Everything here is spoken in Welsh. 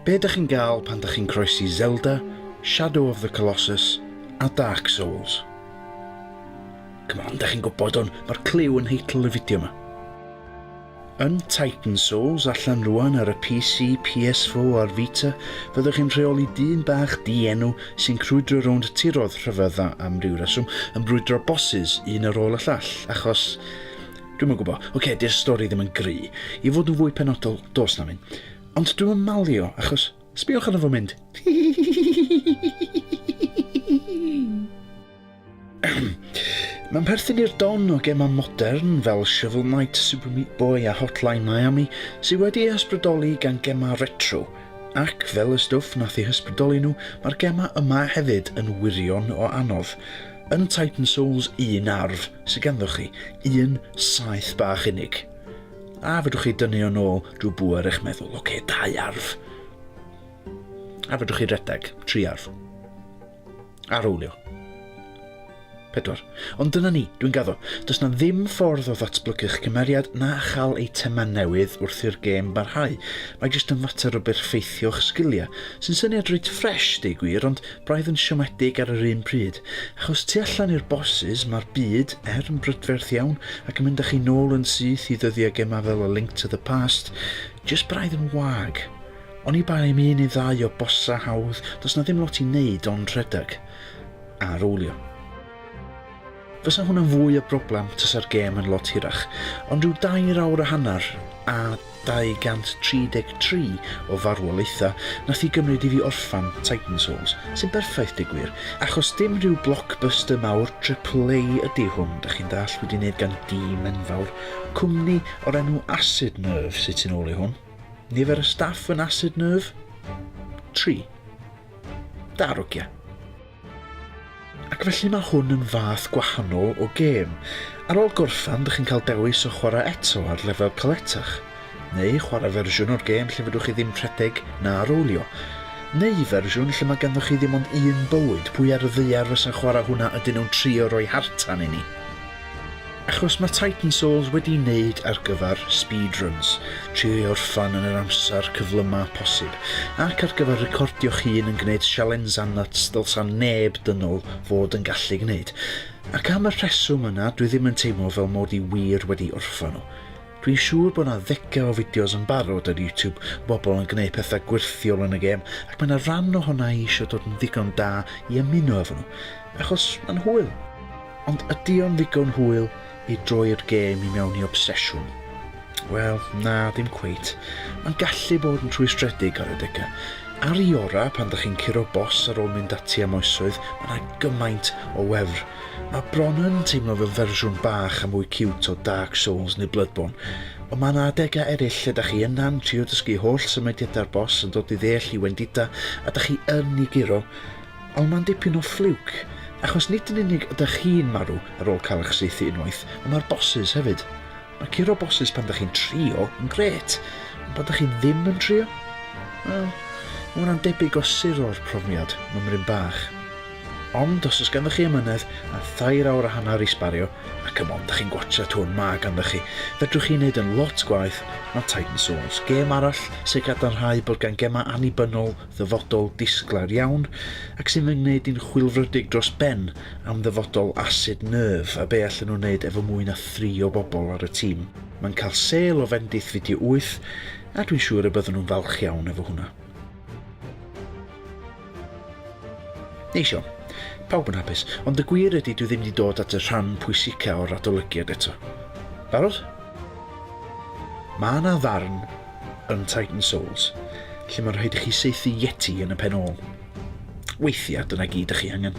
Be dych chi'n gael pan dych chi'n croesi Zelda, Shadow of the Colossus a Dark Souls? Come on, dych chi'n gwybod hwn, mae'r cliw yn nheitl y fideo yma. Yn Titan Souls, allan rwan ar y PC, PS4 a'r Vita, fyddwch chi'n rheoli dyn bach di-enw sy'n crwydro rownd tiroedd rhyfedd a, am ryw reswm, yn brwydro bosses un ar ôl y llall, achos... Dwi'm yn gwybod. Ocê, 'di'r stori ddim yn gry. I fod yn fwy penodol, does na'm un. Ond dwi'm yn malio, achos, sbïwch arno fo mynd! Mae'n perthyn i'r don o gemau modern fel Shovel Knight, Super Meat Boy a Hotline Miami sydd wedi ei hysbrydoli gan gemau retro, ac fel y stwff nath ei hysbrydoli nhw, mae'r gemau yma hefyd yn wirion o anodd. Yn Titan Souls 1 arf sydd ganddoch chi, un saeth bach unig. A fedrwch chi dynnu o'n ôl drwy bŵer eich meddwl, oce, dau arf. A fedrwch chi redeg, tri arf. Arwylio. Pedwar. Ond dyna ni, dwi'n gaddo. Does na ddim ffordd o ddatblygu'ch cymeriad na chael eitemau newydd wrth i'r gêm barhau. Mae jyst yn fater o berffeithio'ch sgiliau, sy'n syniad reit ffresh, deud gwir, ond braidd yn siomedig ar yr un pryd. Achos tu allan i'r bosses, mae'r byd, er, yn brydferth iawn, ac yn mynd â chi nôl yn syth i ddyddiau gemau fel A Link to the Past, jyst braidd yn wag. Oni bai am un neu ddau o bosa hawdd, does 'na ddim lot i wneud ond rhedeg. A rowlio. Fysa hwnna'n fwy o broblem tasa'r gêm yn lot hirach, ond rhyw dair awr a hanner a 233 o farwolaethau nath i gymryd i fi orffan Titan Souls, sy'n berffaith deu gwir, achos dim rhyw blockbuster mawr triple A ydi hwn, dach chi'n dallt, wedi neud gan dîm enfawr, cwmni o'r enw Acid Nerve sy tu nôl i hwn. Nifer y staff yn Acid Nerve? 3. Darogia. Ac felly mae hwn yn fath gwahanol o gêm. Ar ôl gorffan, dych chi'n cael dewis o chwarae eto ar lefel caletach, neu chwarae fersiwn o'r gêm lle fedrwch chi ddim rhedeg na rowlio, neu fersiwn lle mae ganddoch chi ddim ond un bywyd, pwy ar y ddaear fysa'n chwarae hwnna ydyn nhw'n trio rhoi hartan i ni? Achos mae Titan Souls wedi wneud ar gyfer speedruns, trio ei orffan yn yr amser cyflyma posib, ac ar gyfer recordio'ch hun yn gwneud sialensau nyts ddylsa neb dynol fod yn gallu gwneud. Ac am y rheswm yna dwi ddim yn teimlo fel mod i wir wedi orffan nhw. Dwi'n siŵr bod 'na ddegau o fideos yn barod ar YouTube o bobl yn gwneud pethau gwyrthiol yn y gêm, ac mae 'na ran ohona i isio dod yn ddigon da i ymuno efo nhw, achos mae'n hwyl. Ond ydy o'n ddigon hwyl i droi'r gêm i mewn i obsesiwn? Wel, na, dim cweit. Mae'n gallu bod yn rhwystredig ar adegau. Ar i ora, pan 'da chi'n curo bos ar ôl mynd ati am oesoedd, mae 'na gymaint o wefr Mae bron yn teimlo fel fersiwn bach a mwy ciwt o Dark Souls neu Bloodborne, ond mae yna adegau eraill lle da chi yna'n trio dysgu holl symudiadau'r boss yn dod i ddeall i wendida a da chi yn i guro, ond mae'n dipyn o ffliwc, achos nid yn unig ydych chi'n marw ar ôl cael eich saethu unwaith, ond mae'r bosses hefyd. Mae curo bosses pan da chi'n trio yn gret, ond pan da chi ddim yn trio? Wel, mae hwnna'n debyg o suro'r profiad, mymryn bach. Ond os oes ganddo chi ymynedd a thair awr a hanner i sbario, ac ymon da chi'n gwatcha tŵr ma ganddo chi, fedrwch chi wneud yn lot gwaith na Titan Souls, gêm arall sy'n cadarnhau bod gan gemau annibynnol ddyfodol disglair iawn ac sy'n fy ngwneud i'n chwilfrydig dros ben am ddyfodol Acid Nerve a be allen nhw wneud efo mwy na thri o bobl ar y tîm. Mae'n cael sêl o fendith fideo wyth a dwi'n siŵr y byddwn nhw'n falch iawn efo hwnna. Neis iawn. Pawb yn hapus. Ond y gwir ydy dwi ddim wedi dod at y rhan pwysica o'r adolygiad eto. Barod? Mae 'na ddarn yn Titan Souls, lle mae'n rhaid i chi saethu Yeti yn y pen ôl. Weithiau, dyna gyd ych chi angen.